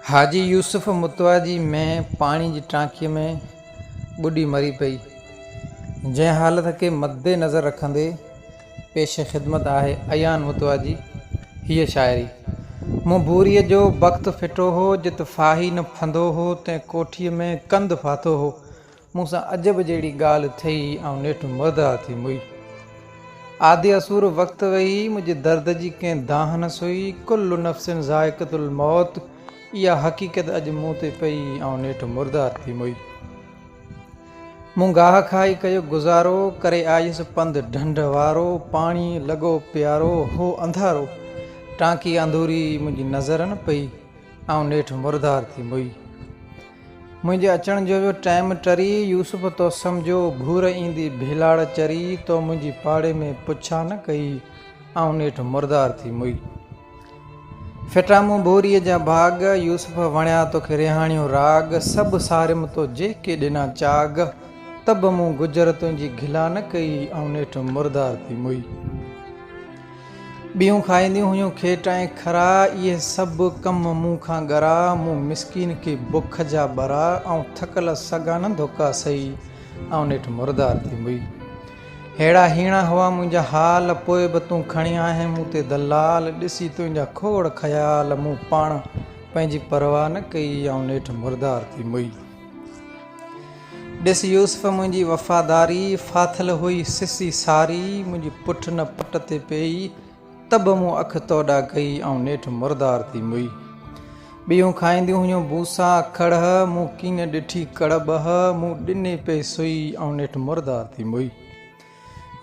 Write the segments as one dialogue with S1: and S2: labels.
S1: حاجي يوسف متواجي ۾ پاڻي جي ٽانڪيء ۾ ٻڏي مري پئي، جنهن حالت کي مدنظر رکندي پيش خدمت آهي ايان متواجي هيء شاعري. مون ڀوريء جو بخت ڦٽو هو، جت ڦاهي نه ڦندو هو، تنهن ڪوٺيء ۾ ڪنڌ ڦاٿو هو، مون سان عجب جهڙي ڳالهه ٿئي، آئون نيٺ مرده ٿي موئي. آڌي اسور وقت ويئي، منهنجي درد جي ڪنهن دانهن نه سئي. ڪل نفس ذائقة الموت، اها حقيقت اڄ مون تي پئي، آئون نيٺ مرده ٿي موئي. مون گاهه کائي ڪيو گذارو، ڪري آيس پنڌ ڍنڍ وارو. پاڻي لڳو پيارو، هو انڌارو، ٽانڪي انڌوري منهنجي نظر نه پئي، آئون نيٺ مرده ٿي موئي. منهنجي اچڻ جو جو ٽيم ٽري، يوسف تو سمجهيو گهور ايندي ڀيلاڙ چري، تو منهنجي پاڙي ۾ پڇا نه ڪئي، آئون نيٺ مردار ٿي موئي. ڦٽا مون ڀوريء جا ڀاڳ، يوسف وڻيا توکي ريحاڻيو راڳ، سڀ ساريم تو جيڪي ڏنا چاڳ، ته به مون گجر تنهنجي گهلا نه ڪئي، آئون نيٺ مردار ٿي موئي. ٻيون کائينديون هيون کيٽ ۽ کرا، اهي سڀ ڪم مون کان ڳرا، مون مسڪين کي بک جا ٻرا، آئون ٿڪل سگانه ڌوڪا سهي، آئون نيٺ مردار ٿي مئي. ههڙا هيڻا هئا منهنجا حال، پوء به تون کڻي آهين مون تي دلال، ڏسي تنهنجا کوڙ خيال، مون پاڻ پنهنجي پرواهه نه ڪئي، آئون نيٺ مردار ٿي مئي. ڏس يوسف منهنجي وفاداري، ڦاٿل هئي سسي ساري، منهنجي پٺ نه پٽ تي پيئي، ته به مون اک توڏا ڪئي، آئون نيٺ مردار ٿي مئي. ٻيون کائينديون هيون بوسا ڪڙهه، مون ڪين ڏٺي ڪڙٻهه، مون ڏني پئي سئي، آئون نيٺ مردار ٿي مئي.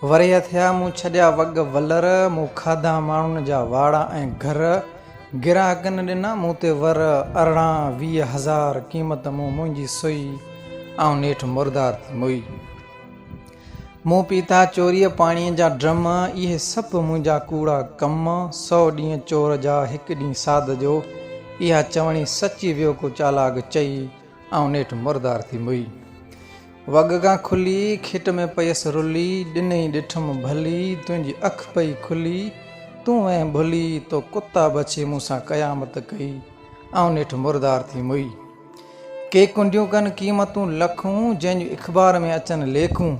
S1: ورهيه ٿيا مون ڇڏيا وڳ ولر، مون کاڌا ماڻهن جا واڙا ۽ گهر، گراهڪن ڏنا مون تي ور، ارڙهان ويهه هزار قيمت مون منهنجي سئي، آئون نيٺ مردار ٿي موئي. مون پيتا چوريء پاڻيء جا ڊرم، اهي سڀ منهنجا ڪوڙا ڪم، سؤ ڏينهن چور جا هڪ ڏينهن ساڌ جو، اها چوڻي سچي ويو ڪو چالاڪ چئي، آئون نيٺ مردار ٿي موئي. وڳ کان کلي، کٽ ۾ پيس رلي، ڏنئي ڏٺم ڀلي، تنهنجي اک پئي کلي، تون وئين ڀلي، تو ڪتا بڇي مون سان قيامت ڪئي، آئون نيٺ مردار ٿي موئي. ڪي ڪنڊيون ڪن قيمتون لکون، جنهن جون اخبار ۾ اچن ليکون،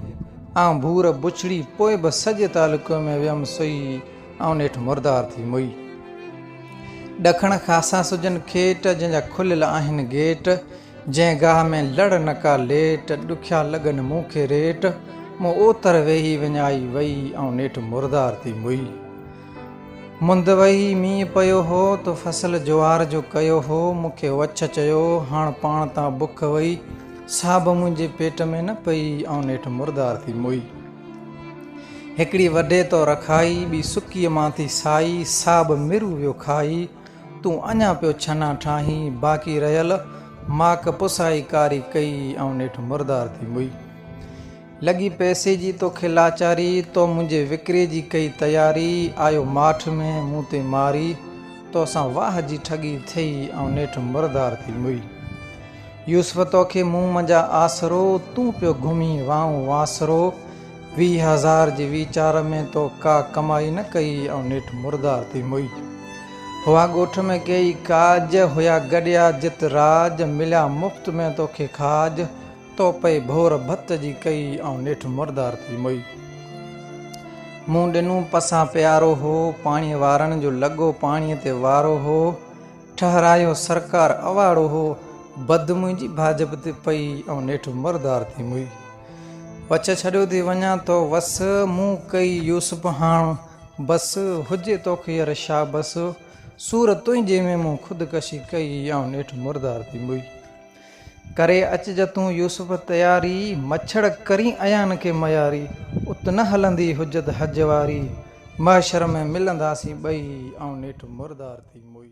S1: آئون ڀور بڇڙي، پوء به سڄي تعلقي ۾ ويم سوئي، آئون نيٺ مردار ٿي موئي. ڏکڻ خاصا سجن کيٽ، جنهن جا کليل آهن گيٽ، جنهن گاهه ۾ لڙ نه ڪا ليٽ، ڏکيا لڳن مون کي ريٽ، مون اوتر ويهي وڃائي وئي، آئون نيٺ مردار ٿي موئي. مند وهي مينهن پيو هو، تو فصل جوار جو ڪيو هو، مون کي وڇ چيو، هاڻ پاڻ تان بک وئي، سا به منهنجي پيٽ ۾ نه پئي، آئون نيٺ مردار ٿي موئي. هڪڙي وڍي تو رکائي، ٻي سڪيء مان ٿي سائي، سا به مرو ويو کائي، تون اڃا پيو ڇنا ٺاهين، باقي رهيل ماڪ پسائي ڪاري ڪئي، آئون نيٺ مردار ٿي موئي. لڳي پئسي جي توکي لاچاري، تو منهنجي وڪري جي ڪئي تياري، آيو ماٺ ۾ مون تي ماري، تو سان واهه جي ٺڳي ٿئي، آئون نيٺ مردار ٿي موئي. يوسف توکي مون منجھا آسرو، تون پيو گھمين وانء واسرو، ويھ ھزار جي ويچار ۾ تو ڪا ڪمائي نه ڪئي ۽ نيٺ مردار ٿي موئي. ھئا ڳوٺ ۾ ڪيئي ڪاڄ، ھيا گڏيا جت راڄ، مليا مفت ۾ توکي کاڄ، تو پئي ڀور ڀت جي ڪئي ۽ نيٺ مردار ٿي موئي. مون ڏنو پسان پيارو ھو، پاڻي وارڻ جو لڳو پاڻي تي وارو ھو، ٺهرايو سرڪار اواڙو هو بد منهنجي ڀاجپ تي پئي ۽ نيٺ مردار ٿي موئي وچ ڇڏيو ٿي وڃان تو وس مون ڪئي يوسف هاڻ بس هجي توکي ير شاه بس سور تنهنجي ۾ مون خودڪشي ڪئي ۽ نيٺ مردار ٿي موئي ڪري اچج تون يوسف تياري، مڇڙ ڪرين ايان کي مياري، ات نه هلندي حجت حج واري، محشر ۾ ملنداسين ٻئي، آئون نيٺ مردار ٿي موئي.